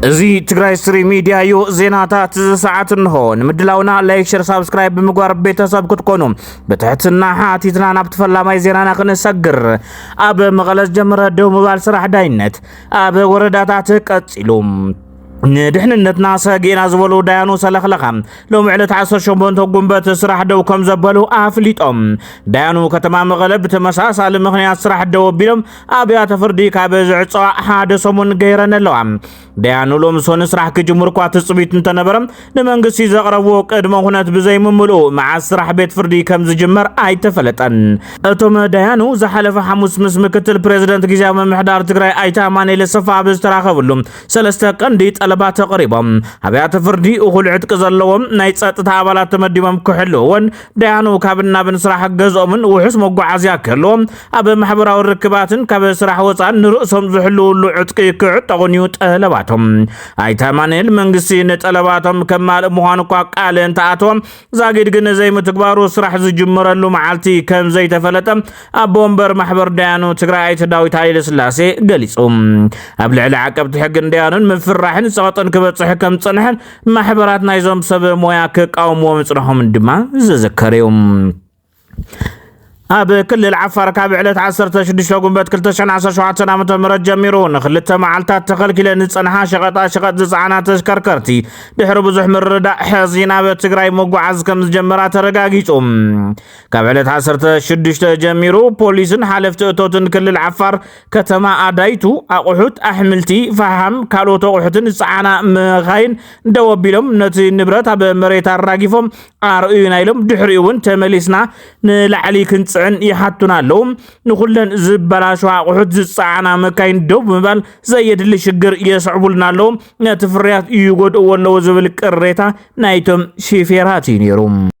እዚ ትግራይ ስሪ ሚዲያ እዩ። ዜናታት እዚ ሰዓት እንሆ። ንምድላውና ላይክ፣ ሸር፣ ሳብስክራይብ ብምግባር ቤተሰብ ክትኮኑ ብትሕትና ሓቲትና ናብቲ ፈላማይ ዜናና ክንሰግር። ኣብ መቐለ ዝጀመረ ደው ምባል ስራሕ ዳይነት ኣብ ወረዳታት ቀፂሉ ንድሕንነትና ሰጊእና ዝበሉ ዳያኑ ሰለኽለኻ ሎሚ ዕለት 18 ጉንበት ስራሕ ደው ከም ዘበሉ ኣፍሊጦም። ዳያኑ ከተማ መቐለ ብተመሳሳሊ ምክንያት ስራሕ ደው ኣቢሎም ኣብያተ ፍርዲ ካብ ዝዕፀዋ ሓደ ሰሙን ገይረን ኣለዋ። ደያኑ ሎምሶን ስራሕ ክጅምሩ እኳ ትፅቢት እንተነበረ ንመንግስቲ ዘቕረብዎ ቅድመ ኩነት ብዘይምምልኡ መዓዝ ስራሕ ቤት ፍርዲ ከም ዝጅመር ኣይተፈለጠን። እቶም ደያኑ ዝሓለፈ ሓሙስ ምስ ምክትል ፕሬዚደንት ግዜያዊ ምምሕዳር ትግራይ ኣይተ ኣማኑኤል ሰፋ ኣብ ዝተራኸብሉ ሰለስተ ቀንዲ ጠለባት ኣቕሪቦም ኣብያተ ፍርዲ እኹል ዕጥቂ ዘለዎም ናይ ፀጥታ ኣባላት ተመዲቦም ክሕልዎን ደያኑ ካብ እናብን ስራሕ ገዝኦምን ውሑስ መጓዓዝያ ክህልዎም ኣብ ማሕበራዊ ርክባትን ካብ ስራሕ ወፃን ንርእሶም ዝሕልውሉ ዕጥቂ ክዕጠቑን እዩ ጠለባቶም ኣይተ ኣማንኤል መንግስቲ ንጠለባቶም ከማልእ ምዃኑ እኳ ቃል እንተኣተወ ዛጊድ ግን ዘይምትግባሩ ስራሕ ዝጅመረሉ መዓልቲ ከም ዘይተፈለጠ ኣቦ ወንበር ማሕበር ደያኑ ትግራይ ኣይተ ዳዊት ሃይለ ስላሴ ገሊፁ ኣብ ልዕሊ ዓቀብቲ ሕግን ደያኑን ምፍራሕን ፀቕጥን ክበፅሕ ከም ዝፀንሐን ማሕበራት ናይዞም ሰብ ሞያ ክቃወምዎ ምጽንሖም ድማ ዝዝከር እዩ ኣብ ክልል ዓፋር ካብ ዕለት 16 ጉንበት 217 ዓ ም ጀሚሩ ንክልተ መዓልታት ተኸልኪለን ዝፀንሓ ሸቐጣ ሸቐጥ ዝፀዓና ተሽከርከርቲ ድሕሪ ብዙሕ ምርዳእ ሕዚ ናብ ትግራይ መጓዓዝ ከም ዝጀመራ ተረጋጊፁ ካብ ዕለት 16 ጀሚሩ ፖሊስን ሓለፍቲ እቶትን ክልል ዓፋር ከተማ ኣዳይቱ ኣቑሑት፣ ኣሕምልቲ፣ ፈሓም፣ ካልኦት ኣቑሑትን ዝፀዓና መኻይን ደው ኣቢሎም ነቲ ንብረት ኣብ መሬት ኣራጊፎም ኣርእዩና ኢሎም ድሕሪኡ እውን ተመሊስና ንላዕሊ ክንፅዕን ይሓቱና ኣለዉ። ንኩለን ዝበላሸዋ ኣቑሑት ዝፀዓና መካይን ደው ብምባል ዘየድሊ ሽግር የስዕቡልና ኣለዉ፣ ነቲ ፍርያት ይጎድእዎ ኣለዉ ዝብል ቅሬታ ናይቶም ሺፌራት እዩ ነይሩ።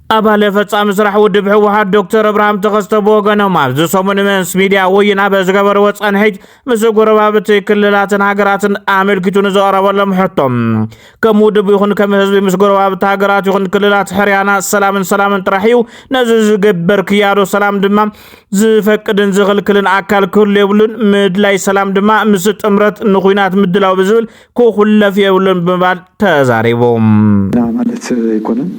ኣባል ፈፃሚ ስራሕ ውድብ ህወሓት ዶክተር ኣብርሃም ተኸስተ ብወገኖም ኣብዚ ሰሙን ምስ ሚድያ ወይን ኣብ ዝገበርዎ ፀንሒት ምስ ጎረባብቲ ክልላትን ሃገራትን ኣመልኪቱ ንዘቐረበሎም ሕቶ ከም ውድብ ይኹን ከም ህዝቢ ምስ ጎረባብቲ ሃገራት ይኹን ክልላት ሕርያና ሰላምን ሰላምን ጥራሕ እዩ ነዚ ዝግበር ክያዶ ሰላም ድማ ዝፈቅድን ዝኽልክልን ኣካል ክህሉ የብሉን ምድላይ ሰላም ድማ ምስ ጥምረት ንኩናት ምድላው ብዝብል ክኹለፍ የብሉን ብምባል ተዛሪቡ። ኢና ማለት ኣይኮነን።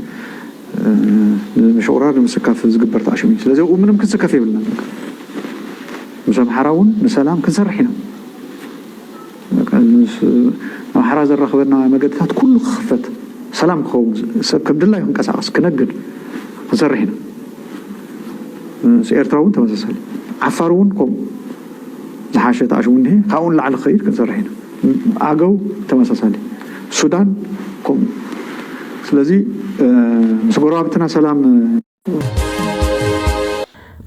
ንምሽቑራር ንምስካፍ ዝግበር ተዓሽም እዩ። ስለዚ ኣብኡ ምንም ክንስከፍ የብልናን። በቃ ምስ ኣምሓራ እውን ንሰላም ክንሰርሕ ኢና። በቃ ምስ ኣምሓራ ዘራኽበና መገድታት ኩሉ ክኽፈት፣ ሰላም ክኸውን፣ ሰብ ከም ድላዩ ክንቀሳቐስ፣ ክነግድ ክንሰርሕ ኢና። ምስ ኤርትራ እውን ተመሳሳሊ። ዓፋር እውን ከምኡ ዝሓሸ ተዓሽሙ እኒሀ። ካብኡ ንላዕሊ ክኸይድ ክንሰርሕ ኢና። ኣገው ተመሳሳሊ ሱዳን ከምኡ ስለዚ ምስ ጎረባብትና ሰላም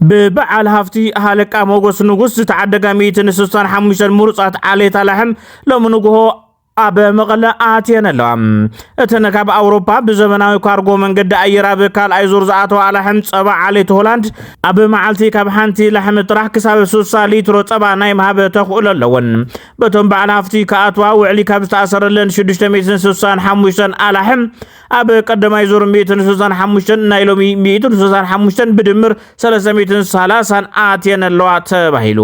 ብበዓል ሃፍቲ ሃለቃ ሞጎስ ንጉስ ዝተዓደጋ ሚእትን ስሳን ሓሙሽተን ምሩፃት ዓሌት ኣላሕም ሎሚ ንጉሆ ኣብ መቐለ ኣትየን ኣለዋ እተን ካብ ኣውሮፓ ብዘመናዊ ካርጎ መንገዲ ኣየር ኣብ ካልኣይ ዙር ዝኣተዋ ኣላሕም ጸባ ዓሌት ሆላንድ ኣብ መዓልቲ ካብ ሓንቲ ላሕሚ ጥራሕ ክሳብ 60 ሊትሮ ጸባ ናይ ምሃብ ተኽእሎ ኣለወን በቶም በዓል ሃፍቲ ክኣትዋ ውዕሊ ካብ ዝተኣሰረለን ሽዱሽተ ሚእትን ስሳን ሓሙሽተን ኣላሕም ኣብ ቀዳማይ ዙር ሚእትን ስሳን ሓሙሽተን ናይ ሎሚ ሚእትን ስሳን ሓሙሽተን ብድምር ሰለስተ ሚእትን ሰላሳን ኣትየን ኣለዋ ተባሂሉ።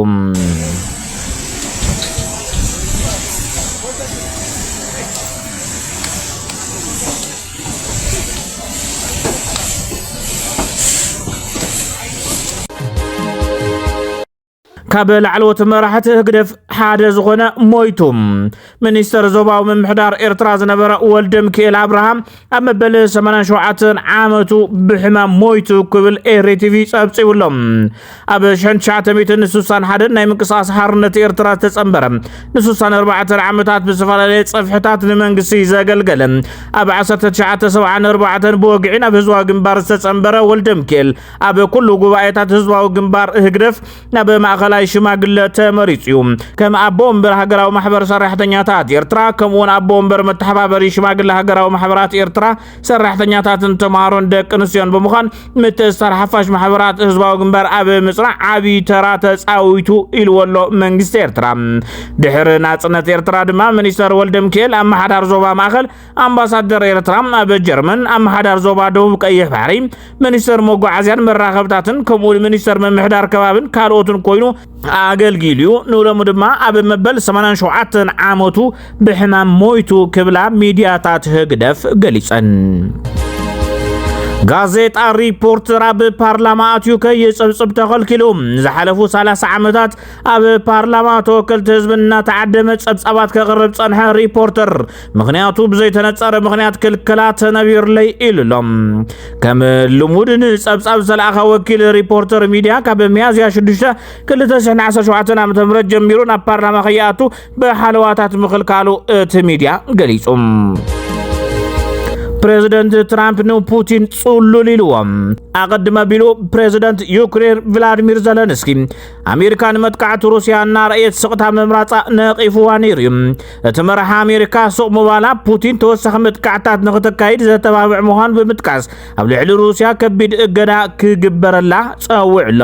ካብ ላዕለዎት መራሕቲ ህግደፍ ሓደ ዝኾነ ሞይቱ ሚኒስተር ዞባዊ ምምሕዳር ኤርትራ ዝነበረ ወልደ ምክኤል ኣብርሃም ኣብ መበል 87 ዓመቱ ብሕማም ሞይቱ ክብል ኤሪ ቲቪ ጸብጺቡ ኣሎ ኣብ 1961 ናይ ምንቅስቓስ ሓርነት ኤርትራ ዝተጸንበረ ን64 ዓመታት ብዝፈላለየ ጸፍሕታት ንመንግስቲ ዘገልገለ ኣብ 1974 ብወግዒ ናብ ህዝባዊ ግንባር ዝተጸንበረ ወልደ ምክኤል ኣብ ኩሉ ጉባኤታት ህዝባዊ ግንባር ህግደፍ ናብ ማእኸላይ ሽማግለ ተመሪጹ እዩ ከም ኣቦ ወንበር ሃገራዊ ማሕበር ሰራሕተኛታት ኤርትራ ከምኡውን ኣቦ ወንበር መተሓባበሪ ሽማግለ ሃገራዊ ማሕበራት ኤርትራ ሰራሕተኛታትን ተምሃሮን ደቂ ኣንስትዮን ብምዃን ምትእስሳር ሓፋሽ ማሕበራት ህዝባዊ ግንባር ኣብ ምጽናዕ ዓብዪ ተራ ተጻዊቱ ኢልዎ ኣሎ መንግስቲ ኤርትራ ድሕሪ ናጽነት ኤርትራ ድማ ሚኒስተር ወልደ ሚካኤል ኣመሓዳር ዞባ ማእኸል ኣምባሳደር ኤርትራ ኣብ ጀርመን ኣመሓዳር ዞባ ደቡብ ቀይሕ ባሕሪ ሚኒስተር መጓዓዝያን መራኸብታትን ከምኡ ሚኒስተር ምምሕዳር ከባብን ካልኦትን ኮይኑ ኣገልጊሉ እዩ ንሎሚ ድማ ኣብ መበል 87 ዓመቱ ብሕማም ሞይቱ ክብላ ሚድያታት ህግደፍ ገሊፀን ጋዜጣ ሪፖርተር ኣብ ፓርላማ ኣትዩ ከይፅብፅብ ተኸልኪሉ ዝሓለፉ 30 ዓመታት ኣብ ፓርላማ ተወከልቲ ህዝቢ እናተዓደመ ፀብፃባት ከቕርብ ፀንሐ ሪፖርተር ምክንያቱ ብዘይተነጸረ ምክንያት ክልከላ ተነቢርለይ ኢሉ ኣሎ ከም ልሙድ ንጸብጻብ ዝተለኣኸ ወኪል ሪፖርተር ሚድያ ካብ ሚያዝያ 6 217 ዓ ም ጀሚሩ ናብ ፓርላማ ከይኣቱ ብሓለዋታት ምክልካሉ እቲ ሚድያ ገሊጹ ፕሬዚደንት ትራምፕ ንፑቲን ጽሉል ኢልዎም ኣቐድመ ቢሉ ፕሬዚደንት ዩክሬን ቭላድሚር ዘለንስኪ ኣሜሪካ ንመጥቃዕቲ ሩስያ እናረእየት ስቕታ ምምራፃ ነቒፍዋ ነይሩ እዩ እቲ መራሒ ኣሜሪካ ሱቕ ምባላ ፑቲን ተወሳኺ መጥቃዕታት ንክተካይድ ዘተባብዕ ምዃኑ ብምጥቃስ ኣብ ልዕሊ ሩስያ ከቢድ እገዳ ክግበረላ ጸዊዑ ኣሎ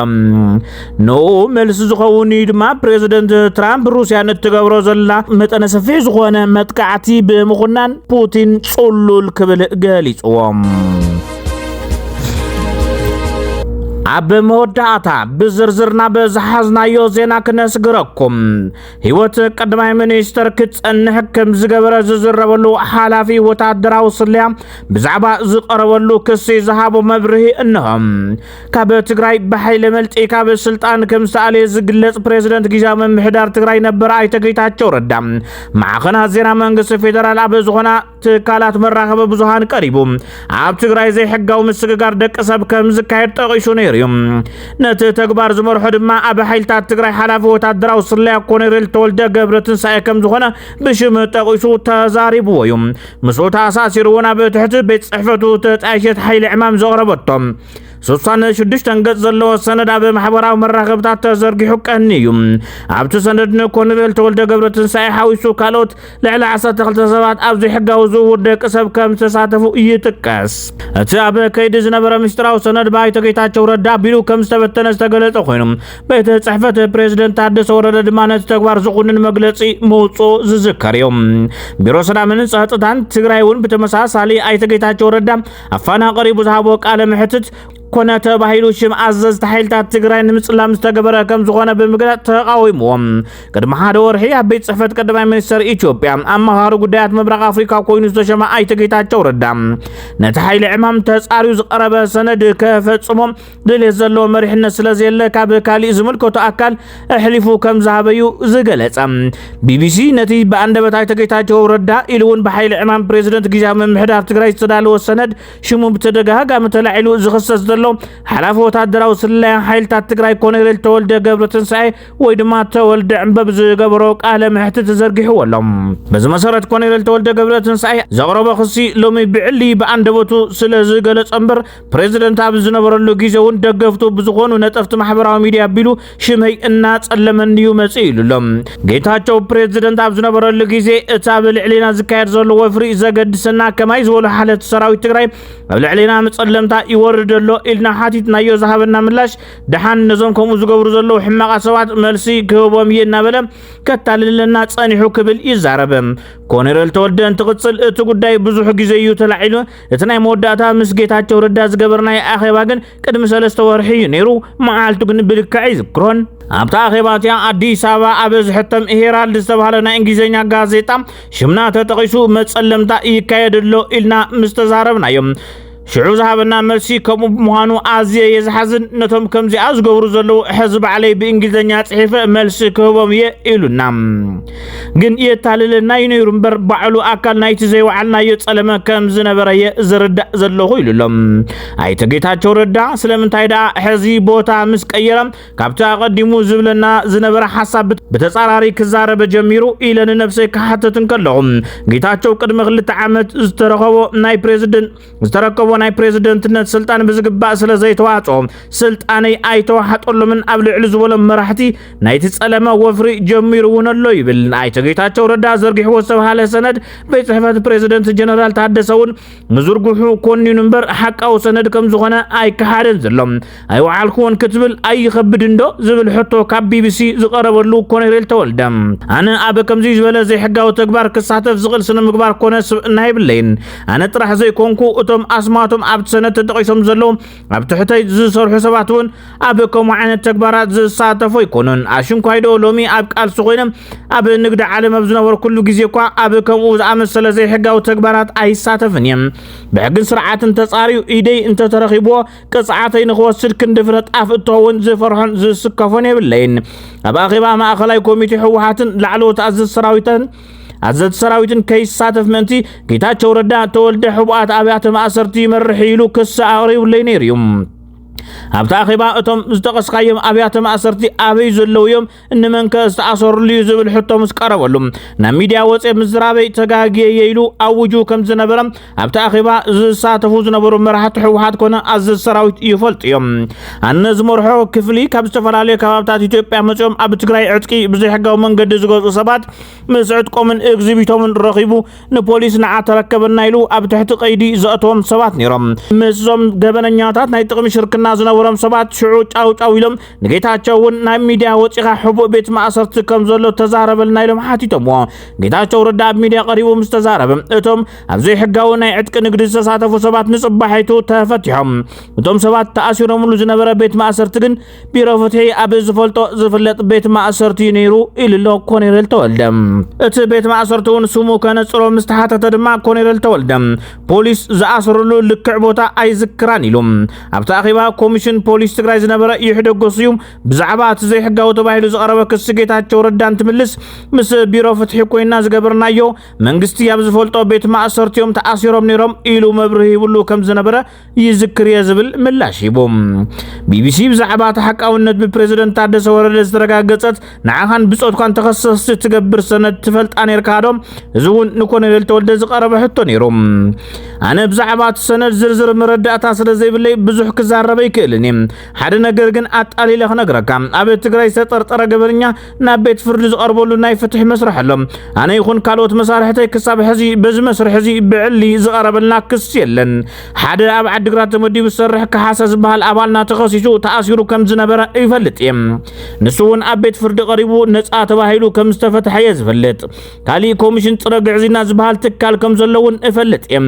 ንኡ መልሲ ዝኸውን እዩ ድማ ፕሬዚደንት ትራምፕ ሩስያ ንትገብሮ ዘላ መጠነ ሰፊሕ ዝኾነ መጥቃዕቲ ብምኹናን ፑቲን ጽሉል ክብል ገሊጽዎም ኣብ መወዳእታ ብዝርዝርና በዝሓዝናዮ ዜና ክነስግረኩም ህይወት ቀዳማይ ሚኒስተር ክጸንሕ ከም ዝገበረ ዝዝረበሉ ሓላፊ ወታደራዊ ስለያ ብዛዕባ ዝቐረበሉ ክሲ ዝሃቦ መብርሂ እንሆ። ካብ ትግራይ ብሓይሊ መልጢ ካብ ስልጣን ከም ዝተኣለየ ዝግለጽ ፕሬዚደንት ግዜያዊ ምምሕዳር ትግራይ ነበር ኣይተ ጌታቸው ረዳ ማዕኸናት ዜና መንግስቲ ፌደራል ኣብ ዝኾና ትካላት መራኸቢ ብዙሃን ቀሪቡ ኣብ ትግራይ ዘይሕጋዊ ምስግጋር ደቂ ሰብ ከም ዝካየድ ጠቒሱ ነይሩ እዩ ነቲ ተግባር ዝመርሖ ድማ ኣብ ሓይልታት ትግራይ ሓላፊ ወታደራዊ ስለያ ኮሎኔል ተወልደ ገብረ ትንሳኤ ከም ዝኾነ ብሽም ጠቒሱ ተዛሪብዎ እዩ ምስኡ ተኣሳሲሩ እውን ኣብ ትሕቲ ቤት ፅሕፈቱ ተጣይሸት ሓይሊ ዕማም ዘቕረበቶ ስሳነ ሽዱሽተን ገጽ ዘለዎ ሰነድ ኣብ ማሕበራዊ መራኸብታት ተዘርጊሑ ቀንዩ ኣብቲ ሰነድ ንኮሎኔል ተወልደ ገብረ ትንሳኤ ሓዊሱ ካልኦት ልዕሊ 12 ሰባት ኣብ ዘይሕጋዊ ዝውውር ደቂ ሰብ ከም ዝተሳተፉ ይጥቀስ እቲ ኣብ ከይዲ ዝነበረ ምስጢራዊ ሰነድ ባይቶ ጌታቸው ረዳ ቢሉ ከም ዝተበተነ ዝተገለጸ ኮይኑ ቤተ ጽሕፈት ፕሬዚደንት ታደሰ ወረደ ድማ ነቲ ተግባር ዝኹንን መግለጺ ምውፁ ዝዝከር እዩ ቢሮ ሰላምን ጸጥታን ትግራይ እውን ብተመሳሳሊ ኣይተ ጌታቸው ረዳ ኣብ ፋና ቀሪቡ ዝሃቦ ቃለ መሕትት ኮነ ተባሂሉ ሽም ኣዘዝቲ ሓይልታት ትግራይ ንምጽላም ዝተገበረ ከም ዝኾነ ብምግላጽ ተቃዊምዎም። ቅድሚ ሓደ ወርሒ ኣብ ቤት ጽሕፈት ቀዳማይ ሚኒስትር ኢትዮጵያ ኣማኻሪ ጉዳያት ምብራቕ ኣፍሪካ ኮይኑ ዝተሸመ ኣይተ ጌታቸው ረዳ ነቲ ሓይሊ ዕማም ተጻርዩ ዝቀረበ ሰነድ ከፈጽሞ ድሌት ዘለዎ መሪሕነት ስለ ዘየለ ካብ ካሊእ ዝምልከቶ ኣካል ኣሕሊፉ ከም ዝሃበዩ ዝገለጸ ቢቢሲ ነቲ ብኣንደበት ኣይተ ጌታቸው ረዳ ኢሉ እውን ብሓይሊ ዕማም ፕሬዚደንት ግዜያዊ ምምሕዳር ትግራይ ዝተዳለወ ሰነድ ሽሙ ብተደጋጋሚ ተላዒሉ ዝኽሰስ ዘሎ ሓላፊ ወታደራዊ ስለያን ሓይልታት ትግራይ ኮሎኔል ተወልደ ገብረ ትንሳኤ ወይ ድማ ተወልደ ዕምበብ ዝገበሮ ቃለ መሕትት ዘርጊሕዎ ኣሎ በዚ መሰረት ኮሎኔል ተወልደ ገብረ ትንሳኤ ዘቕረቦ ክሲ ሎሚ ብዕሊ ብኣንደበቱ ስለ ዝገለጸ እምበር ፕሬዝደንት ኣብ ዝነበረሉ ግዜ እውን ደገፍቱ ብዝኾኑ ነጠፍቲ ማሕበራዊ ሚዲያ ኣቢሉ ሽመይ እናጸለመኒ እዩ መጽእ ኢሉ ኣሎ። ጌታቸው ፕሬዝደንት ኣብ ዝነበረሉ ግዜ እቲ ኣብ ልዕሌና ዝካየድ ዘሎ ወፍሪ ዘገድሰና ከማይ ዝበሉ ሓለፍቲ ሰራዊት ትግራይ ኣብ ልዕሌና መጸለምታ ይወርድ ኣሎ ኢልና ሓቲትናዮ ዝሃበና ምላሽ ድሓን ነዞም ከምኡ ዝገብሩ ዘለዉ ሕማቓ ሰባት መልሲ ክህቦም እየ እናበለ ከታልለና ጸኒሑ ክብል ይዛረብ። ኮኔረል ተወልደ እንትቕጽል እቲ ጉዳይ ብዙሕ ግዜ እዩ ተላዒሉ እቲ ናይ መወዳእታ ምስ ጌታቸው ረዳ ዝገበርናዮ ኣኼባ ግን ቅድሚ ሰለስተ ወርሒ እዩ ነይሩ። መዓልቱ ግን ብልክዕ ኣይዝክሮን። ኣብታ ኣኼባ እቲኣ ኣዲስ ኣበባ ኣብ ዝሕተም ሄራልድ ዝተባህለ ናይ እንግሊዝኛ ጋዜጣ ሽምና ተጠቒሱ መጸለምታ ይካየድ ኣሎ ኢልና ምስ ተዛረብናዮም ሽዑ ዝሃበና መልሲ ከምኡ ብምዃኑ ኣዝየ እየ ዝሓዝን ነቶም ከምዚኣ ዝገብሩ ዘለዉ ሕዚ ባዕለይ ብእንግሊዝኛ ጽሒፈ መልሲ ክህቦም እየ ኢሉና ግን የታልለና እዩ ነይሩ እምበር ባዕሉ ኣካል ናይቲ ዘይወዓልናዮ ጸለመ ከም ዝነበረ እየ ዝርዳእ ዘለኹ ኢሉ ኣሎ ኣይተ ጌታቸው ረዳ። ስለምንታይ ደኣ ሕዚ ቦታ ምስ ቀየረ ካብቲ ኣቐዲሙ ዝብለና ዝነበረ ሓሳብ ብተጻራሪ ክዛረበ ጀሚሩ ኢለ ንነብሰይ ክሓተት እንከለኹ ጌታቸው ቅድሚ ክልተ ዓመት ዝተረኸቦ ናይ ፕሬዝደንት ዝተረከቦ ናይ ፕሬዝደንትነት ስልጣን ብዝግባእ ስለ ዘይተዋጾ ስልጣነይ ኣይተዋሓጠሎምን ኣብ ልዕሊ ዝበሎም መራሕቲ ናይቲ ጸለመ ወፍሪ ጀሚሩ እውን ኣሎ ይብል ኣይተ ጌታቸው ረዳ ዘርጊሕዎ ዝተብሃለ ሰነድ ቤት ጽሕፈት ፕሬዝደንት ጀነራል ታደሰ እውን ምዝርግሑ ኮኒኑ እምበር ሓቃዊ ሰነድ ከም ዝኾነ ኣይከሓደን ዘሎ ኣይወዓልክዎን ክትብል ኣይኸብድን ዶ ዝብል ሕቶ ካብ ቢቢሲ ዝቐረበሉ ኮነሬል ተወልደ ኣነ ኣብ ከምዚ ዝበለ ዘይሕጋዊ ተግባር ክሳተፍ ዝኽእል ስነ ምግባር ኮነ ስብእና የብለይን ኣነ ጥራሕ ዘይኮንኩ እቶም ኣስማቶም ኣብቲ ሰነድ ተጠቒሶም ዘለዉ ኣብ ትሕተይ ዝሰርሑ ሰባት እውን ኣብ ከምኡ ዓይነት ተግባራት ዝሳተፉ ኣይኮኑን ኣሽንኳይዶ ሎሚ ኣብ ቃልሲ ኮይነ ኣብ ንግዲ ዓለም ኣብ ዝነበርኩሉ ግዜ እኳ ኣብ ከምኡ ዝኣመሰለ ዘይሕጋዊ ተግባራት ኣይሳተፍን እየ ብሕግን ስርዓትን ተፃርዩ ኢደይ እንተተረኺብዎ ቅፅዓተይ ንክወስድ ክንዲ ፍረ ጣፍ እትኸውን ዝፈርሖን ዝስከፎን የብለይን። ኣብ ኣኼባ ማእኸላይ ኮሚቴ ህወሓትን ላዕለዎት ኣዘዝ ሰራዊትን ኣዘዝ ሰራዊትን ከይሳተፍ ምእንቲ ጌታቸው ረዳ ተወልደ ሕቡኣት ኣብያተ ማእሰርቲ ይመርሕ ኢሉ ክሲ ኣቕሪቡለይ ነይሩ እዩ። ኣብቲ ኣኼባ እቶም ዝጠቐስካዮም ኣብያተ ማእሰርቲ ኣበይ ዘለዉ እዮም እንመንከ ዝተኣሰርሉ እዩ ዝብል ሕቶ ምስ ቀረበሉ ናብ ሚድያ ወፅየ ምዝራበይ ተጋግየ እየ ኢሉ ኣውጁ ከም ዝነበረ ኣብቲ ኣኼባ ዝሳተፉ ዝነበሩ መራሕቲ ህወሓት ኮነ ኣዘዝ ሰራዊት ይፈልጡ እዮም። ኣነ ዝመርሖ ክፍሊ ካብ ዝተፈላለዩ ከባብታት ኢትዮጵያ መፅኦም ኣብ ትግራይ ዕጥቂ ብዘይሕጋዊ መንገዲ ዝገዝኡ ሰባት ምስ ዕጥቆምን እግዚቢቶምን ረኺቡ ንፖሊስ ንዓ ተረከበና ኢሉ ኣብ ትሕቲ ቀይዲ ዘእተዎም ሰባት ነይሮም። ምስዞም ገበነኛታት ናይ ጥቕሚ ሽርክና ዝነበሮም ሰባት ሽዑ ጫውጫው ኢሎም ንጌታቸው እውን ናይ ሚድያ ወፂኻ ሕቡእ ቤት ማእሰርቲ ከም ዘሎ ተዛረበልና ኢሎም ሓቲቶምዎ ጌታቸው ረዳ ኣብ ሚድያ ቀሪቡ ምስ ተዛረበ እቶም ኣብ ዘይሕጋዊ ናይ ዕጥቂ ንግዲ ዝተሳተፉ ሰባት ንፅባሒቱ ተፈቲሖም እቶም ሰባት ተኣሲሮምሉ ዝነበረ ቤት ማእሰርቲ ግን ቢሮ ፍትሒ ኣብ ዝፈልጦ ዝፍለጥ ቤት ማእሰርቲ እዩ ነይሩ ኢሉ ኣሎ ኮኔሬል ተወልደ እቲ ቤት ማእሰርቲ እውን ስሙ ከነፅሮ ምስ ተሓተተ ድማ ኮኔሬል ተወልደ ፖሊስ ዝኣሰረሉ ልክዕ ቦታ ኣይዝክራን ኢሉ ኣብቲ ኣኼባ ኮሚሽን ፖሊስ ትግራይ ዝነበረ ይሕደጎስ እዩ ብዛዕባ እቲ ዘይሕጋዊ ተባሂሉ ዝቐረበ ክሲ ጌታቸው ረዳ እንትምልስ ምስ ቢሮ ፍትሒ ኮይና ዝገበርናዮ መንግስቲ ኣብ ዝፈልጦ ቤት ማእሰርቲ እዮም ተኣሲሮም ነይሮም ኢሉ መብርሂ ይብሉ ከም ዝነበረ ይዝክር እየ ዝብል ምላሽ ሂቡ ቢቢሲ ብዛዕባ ተሓቃውነት ብፕሬዝደንት ታደሰ ወረደ ዝተረጋገፀት ንዓኻን ብጾትኳን ተኸሰስቲ እትገብር ሰነድ ትፈልጣ ነርካ ዶ? እዚ እውን ንኮሎኔል ተወልደ ዝቐረበ ሕቶ ነይሩ። ኣነ ብዛዕባ እቲ ሰነድ ዝርዝር መረዳእታ ስለ ዘይብለይ ብዙሕ ክዛረበ ይክእልን እየ። ሓደ ነገር ግን ኣጣሊለ ክነግረካ፣ ኣብ ትግራይ ዝተጠርጠረ ገበነኛ ናብ ቤት ፍርዲ ዝቐርበሉ ናይ ፍትሒ መስርሕ ኣሎ። ኣነ ይኹን ካልኦት መሳርሕተይ ክሳብ ሕዚ በዚ መስርሕ እዚ ብዕሊ ዝቐረበልና ክስ የለን። ሓደ ኣብ ዓዲግራት ተመዲቡ ዝሰርሕ ካሓሰ ዝበሃል ኣባልና ተኸሲሱ ተኣሲሩ ከም ዝነበረ ይፈልጥ እየ ንሱ እውን ኣብ ቤት ፍርዲ ቀሪቡ ነፃ ተባሂሉ ከም ዝተፈትሐ እየ ዝፈልጥ ካሊእ ኮሚሽን ፅረ ግዕዝይና ዝበሃል ትካል ከም ዘሎ እውን እፈልጥ እየ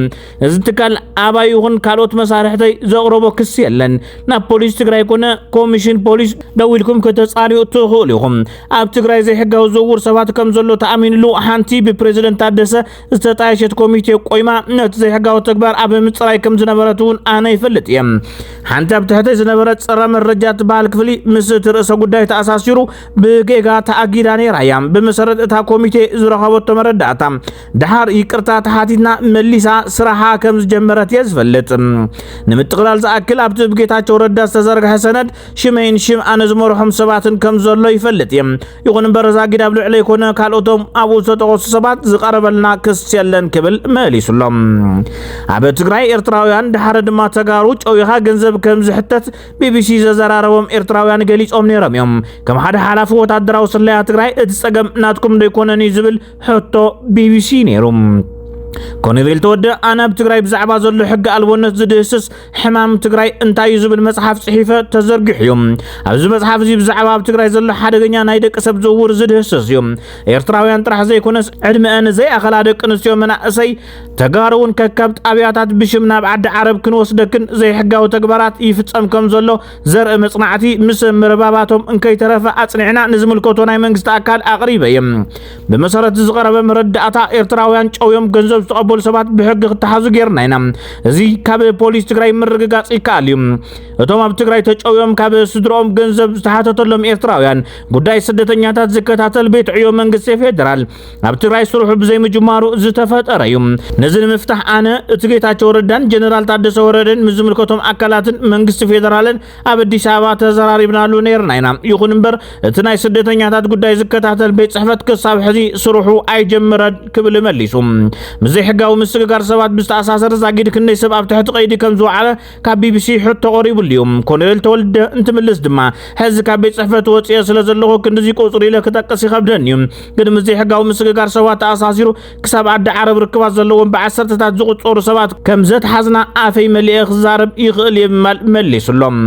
እዚ ትካል ኣባይ ይኹን ካልኦት መሳርሕተይ ዘቕረቦ ክሲ የለን ናብ ፖሊስ ትግራይ ኮነ ኮሚሽን ፖሊስ ደው ኢልኩም ከተፃሪኡ ትኽእሉ ኢኹም ኣብ ትግራይ ዘይሕጋዊ ዝውውር ሰባት ከም ዘሎ ተኣሚንሉ ሓንቲ ብፕሬዚደንት ታደሰ ዝተጣየሸት ኮሚቴ ቆይማ ነቲ ዘይሕጋዊ ተግባር ኣብ ምፅራይ ከም ዝነበረት እውን ኣነ ይፈልጥ እየ ሓንቲ ኣብ ትሕተይ ዝነበረ ፀረ መረጃ ትበሃል ክፍሊ ምስ እቲ ርእሰ ጉዳይ ተኣሳሲሩ ብጌጋ ተኣጊዳ ነይራ እያ ብመሰረት እታ ኮሚቴ ዝረኸበቶ መረዳእታ ድሓር ይቅርታ ተሓቲትና መሊሳ ስራሓ ከም ዝጀመረት እየ ዝፈልጥ ንምጥቕላል ዝኣክል ኣብቲ ብጌታቸው ረዳ ዝተዘርግሐ ሰነድ ሽመይን ሽም ኣነ ዝመርሖም ሰባትን ከም ዘሎ ይፈልጥ እየ ይኹን እምበር ዛጊድ ኣብ ልዕለይ ኮነ ካልኦቶም ኣብኡ ዝተጠቐሱ ሰባት ዝቐረበልና ክስ የለን ክብል መሊሱሎም። ኣብ ትግራይ ኤርትራውያን ድሓረ ድማ ተጋሩ ጨዊኻ ገንዘብ ከም ዝሕተት ቢቢሲ ዘዘራረቦም ኤርትራውያን ገሊጾም ነይሮም እዮም። ከም ሓደ ሓላፊ ወታደራዊ ስለያ ትግራይ እቲ ጸገም ናትኩም ደይኮነን እዩ ዝብል ሕቶ ቢቢሲ ነይሩ። ኮሎኔል ተወደ ኣነ ኣብ ትግራይ ብዛዕባ ዘሎ ሕጊ ኣልቦነት ዝድህስስ ሕማም ትግራይ እንታይ እዩ ዝብል መጽሓፍ ጽሒፈ ተዘርጊሑ እዩ ኣብዚ መጽሓፍ እዚ ብዛዕባ ኣብ ትግራይ ዘሎ ሓደገኛ ናይ ደቂ ሰብ ዝውውር ዝድህስስ እዩ ኤርትራውያን ጥራሕ ዘይኮነስ ዕድመአን ዘይኣኸላ ደቂ ኣንስትዮ መናእሰይ ተጋሩ እውን ከካብ ጣብያታት ብሽም ናብ ዓዲ ዓረብ ክንወስደክን ዘይሕጋዊ ተግባራት ይፍጸም ከም ዘሎ ዘርኢ መጽናዕቲ ምስ ምርባባቶም እንከይተረፈ ኣጽኒዕና ንዝምልከቶ ናይ መንግስቲ ኣካል ኣቕሪበ እየ ብመሰረት እዚ ዝቐረበ መረዳእታ ኤርትራውያን ጨውዮም ገንዘብ ዝተቐበሉ ሰባት ብሕጊ ክተሓዙ ጌርና ኢና። እዚ ካብ ፖሊስ ትግራይ ምርግጋጽ ይከኣል እዩ። እቶም ኣብ ትግራይ ተጨውዮም ካብ ስድሮኦም ገንዘብ ዝተሓተተሎም ኤርትራውያን ጉዳይ ስደተኛታት ዝከታተል ቤት ዕዮ መንግስቲ ፌዴራል ኣብ ትግራይ ስርሑ ብዘይምጅማሩ ዝተፈጠረ እዩ። ነዚ ንምፍታሕ ኣነ እቲ ጌታቸው ረዳን ጀነራል ታደሰ ወረደን ምስ ዝምልከቶም ኣካላትን መንግስቲ ፌዴራልን ኣብ ኣዲስ ኣበባ ተዘራሪብናሉ ነይርና ኢና። ይኹን እምበር እቲ ናይ ስደተኛታት ጉዳይ ዝከታተል ቤት ጽሕፈት ክሳብ ሕዚ ስርሑ ኣይጀመረን ክብል መሊሱ። ምስ ዘይሕጋዊ ምስግጋር ሰባት ብዝተኣሳሰር ዛጊድ ክንደይ ሰብ ኣብ ትሕቲ ቀይዲ ከም ዝወዓለ ካብ ቢቢሲ ሕቶ ቀሪብሉ እዩ። ኮሎኔል ተወልደ እንትምልስ ድማ ሕዚ ካብ ቤት ጽሕፈት ወፅየ ስለ ዘለኹ ክንድዚ ቁፅሪ ኢለ ክጠቅስ ይኸብደኒ እዩ፣ ግን ምስ ዘይሕጋዊ ምስግጋር ሰባት ተኣሳሲሩ ክሳብ ዓዲ ዓረብ ርክባት ዘለዎም ብዓሰርተታት ዝቑጸሩ ሰባት ከም ዘትሓዝና ኣፈይ መሊኤ ክዛረብ ይኽእል እየ ብምባል መሊሱሎም።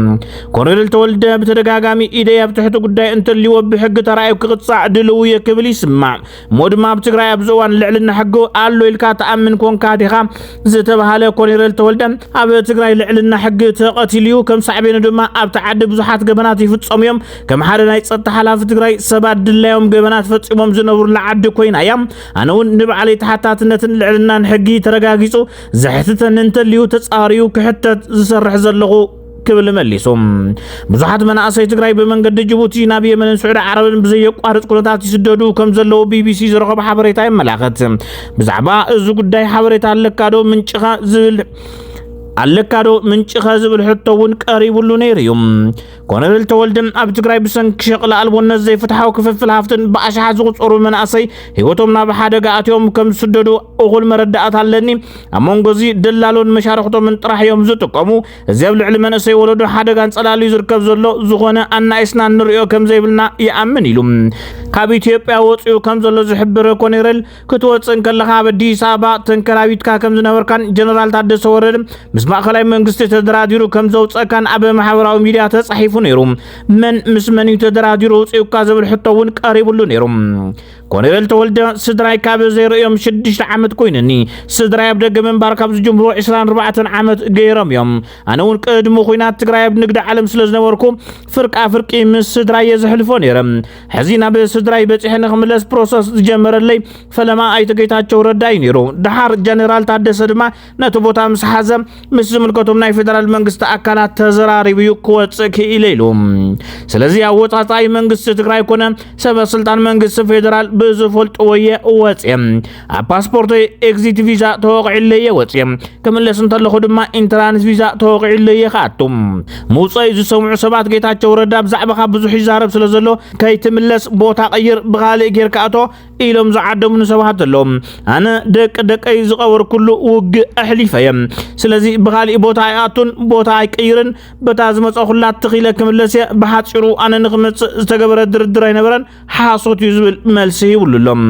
ኮሎኔል ተወልደ ብተደጋጋሚ ኢደይ ኣብ ትሕቲ ጉዳይ እንተልዎ ብሕጊ ተራእዩ ክቕጻዕ ድልው እየ ክብል ይስማዕ። እሞ ድማ ኣብ ትግራይ ኣብዚ እዋን ልዕልና ሕጊ ኣሎ ኢልካ ትኣምን ኮንካ ዲኻ ዝተባሃለ ኮሎኔል ተወልደ ኣብ ትግራይ ልዕልና ሕጊ ተቐቲሉ እዩ። ከም ሳዕቤኑ ድማ ኣብቲ ዓዲ ብዙሓት ገበናት ይፍጸሙ እዮም። ከም ሓደ ናይ ጸጥታ ሓላፊ ትግራይ ሰባት ድላዮም ገበናት ፈጺሞም ዝነብሩላ ዓዲ ኮይና እያ ኣነ እውን ንባዕለይ ተሓታትነትን ልዕልናን ሕጊ ተረጋጊጹ ዘሕትተኒ እንተልዩ ተጻርዩ ክሕተት ዝሰርሕ ዘለኹ ክብል መሊሱ ብዙሓት መናእሰይ ትግራይ ብመንገዲ ጅቡቲ ናብ የመንን ስዑዲ ዓረብን ብዘየቋርፅ ኩነታት ይስደዱ ከም ዘለዉ ቢቢሲ ዝረኸቦ ሓበሬታ የመላኸት ብዛዕባ እዚ ጉዳይ ሓበሬታ ኣለካ ዶ ምንጭኻ ዝብል ኣለካዶ ምንጭኸ ዝብል ሕቶ እውን ቀሪቡሉ ነይሩ እዩ ኮሎኔል ተወልደ ኣብ ትግራይ ብሰንኪ ሸቕሊ ኣልቦነት ዘይፍትሓዊ ክፍፍል ሃፍትን ብኣሽሓት ዝቑፀሩ መናእሰይ ህይወቶም ናብ ሓደጋ ኣትዮም ከም ዝስደዱ እኹል መረዳእታ ኣለኒ። ኣብ መንጎ እዚ ደላሎን መሻርኽቶምን ጥራሕ እዮም ዝጥቀሙ። እዚ ኣብ ልዕሊ መንእሰይ ወለዶ ሓደጋን ጸላሉ እዩ ዝርከብ ዘሎ። ዝኾነ ኣናኢስና ንሪኦ ከም ዘይብልና ይኣምን ኢሉ ካብ ኢትዮጵያ ወፂኡ ከም ዘሎ ዝሕብር ኮኔሬል ክትወፅእ እንከለኻ ኣብ ኣዲስ ኣበባ ተንከራቢትካ ከም ዝነበርካን ጀነራል ታደሰ ወረደ ምስ ማእኸላይ መንግስቲ ተደራዲሩ ከም ዘውፀእካን ኣብ ማሕበራዊ ሚዲያ ተፃሒፉ ነይሩ። መን ምስ መን እዩ ተደራዲሩ ውፅኡካ ዝብል ሕቶ እውን ቀሪብሉ ነይሩ። ኮሎኔል ተወልደ ስድራይ ካብ ዘይርእዮም ሽዱሽተ ዓመት ኮይነኒ ስድራይ ኣብ ደገ ምንባር ካብ ዝጅምሩ 24 ዓመት ገይሮም እዮም። ኣነ እውን ቅድሚ ኩናት ትግራይ ኣብ ንግዲ ዓለም ስለ ዝነበርኩ ፍርቃ ፍርቂ ምስ ስድራይ እየ ዘሕልፎ ነይረ። ሕዚ ናብ ስድራይ በፂሐ ንክምለስ ፕሮሰስ ዝጀመረለይ ፈለማ ኣይተ ጌታቸው ረዳ እዩ ነይሩ። ድሓር ጀኔራል ታደሰ ድማ ነቲ ቦታ ምስ ሓዘ ምስ ዝምልከቶም ናይ ፌደራል መንግስቲ ኣካላት ተዘራሪቡ እዩ ክወፅእ ክኢለ ኢሉ። ስለዚ ኣወፃፃኢ መንግስቲ ትግራይ ኮነ ሰበ ስልጣን መንግስቲ ፌደራል ብዝፈልጥዎ እየ ወፅየ። ኣብ ፓስፖርተይ ኤግዚት ቪዛ ተወቂዕለ እየ ወፅየ ክምለስ እንተለኹ ድማ ኢንትራንስ ቪዛ ተወቂዕለ እየ ክኣቱ ምውፀዩ ዝሰምዑ ሰባት ጌታቸው ረዳ ብዛዕባኻ ብዙሕ ይዛረብ ስለ ዘሎ ከይትምለስ ቦታ ቀይር ብካልእ ጌርካ ኣቶ ኢሎም ዝዓደሙኒ ሰባት ኣለዉ ኣነ ደቂ ደቀይ ዝቐበርኩሉ ውግእ ኣሕሊፈ እየ ስለዚ ብካሊእ ቦታ ኣይኣቱን ቦታ ኣይቀይርን በታ ዝመፀኹላ ትኺለ ክምለስ እየ ብሓፂሩ ኣነ ንክመፅእ ዝተገበረ ድርድር ኣይነበረን ሓሶት እዩ ዝብል መልሲ ይብሉ ኣሎም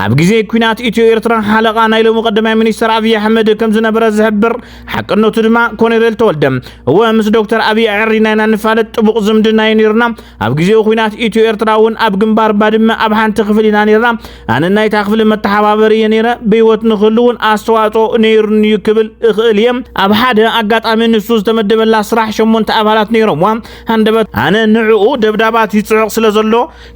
ኣብ ግዜ ኩናት ኢትዮ ኤርትራ ሓለቓ ናይ ሎሚ ቀዳማይ ሚኒስተር ኣብዪ ኣሕመድ ከም ዝነበረ ዝሕብር ሓቅነቱ ድማ ኮነሬል ተወልደ እወ ምስ ዶክተር ኣብዪ ኣዕሪና ኢና ንፋለጥ ጥቡቕ ዝምድና እዩ ነይሩና ኣብ ግዜኡ ኩናት ኢትዮ ኤርትራ እውን ኣብ ግንባር ባድመ ኣብ ሓንቲ ክፍሊ ኢና ነይርና ኣነ ናይታ ክፍሊ መተሓባበሪ እየ ነይረ ብህይወት ንክህሉ እውን ኣስተዋፅኦ ነይሩኒ እዩ ክብል እኽእል እየ ኣብ ሓደ ኣጋጣሚ ንሱ ዝተመደበላ ስራሕ ሸሞንተ ኣባላት ነይሮምዋ ሃንደበት ኣነ ንዕኡ ደብዳባት ይጽዑቕ ስለ ዘሎ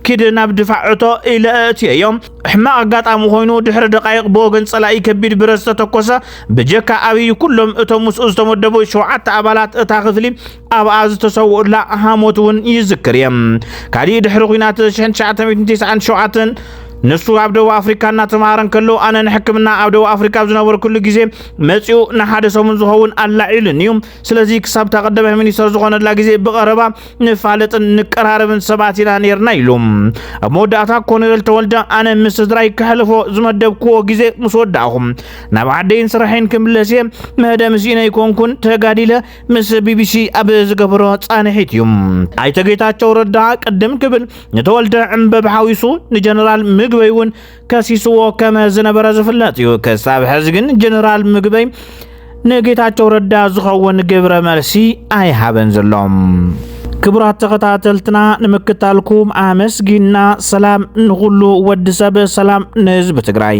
ኪድ ናብ ድፋዕ እቶ ኢለ ኣእትየዮ። ሕማቕ ኣጋጣሚ ኮይኑ ድሕሪ ደቓይቕ ብወገን ጸላኢ ከቢድ ብረት ዝተተኮሰ። ብጀካ ኣብይ ኩሎም እቶም ምስኡ ዝተመደቡ ሸውዓተ ኣባላት እታ ክፍሊ ኣብኣ ዝተሰውኡላ ሃሞት እውን ይዝክር እየ። ካሊእ ድሕሪ ኩናት 1997 ንሱ ኣብ ደቡብ ኣፍሪካ እናተምሃረ እንከሎ ኣነ ንሕክምና ኣብ ደቡብ ኣፍሪካ ኣብ ዝነበርኩሉ ግዜ መፂኡ ንሓደ ሰሙን ዝኸውን ኣላዒሉኒ እዩ። ስለዚ ክሳብ እታ ቀዳማይ ሚኒስተር ዝኾነላ ግዜ ብቐረባ ንፋለጥን ንቀራረብን ሰባት ኢና ነርና ኢሉ። ኣብ መወዳእታ ኮሎኔል ተወልደ ኣነ ምስ ስድራይ ከሕልፎ ዝመደብክዎ ግዜ ምስ ወዳእኹ ናብ ዓደይን ስራሕን ክምለስ እየ መደምስ ምስኢነ ይኮንኩን ተጋዲለ ምስ ቢቢሲ ኣብ ዝገበሮ ጻንሒት እዩ። ኣይተ ጌታቸው ረዳ ቅድም ክብል ንተወልደ ዕምበብ ሓዊሱ ንጀነራል ምግበይ እውን ከሲስዎ ከም ዝነበረ ዝፍለጥ እዩ። ክሳብ ሕዚ ግን ጀነራል ምግበይ ንጌታቸው ረዳ ዝኸውን ግብረ መልሲ ኣይሃበን ዘሎ። ክቡራት ተኸታተልትና ንምክታልኩም ኣመስጊና፣ ሰላም ንኹሉ ወዲ ሰብ፣ ሰላም ንህዝቢ ትግራይ።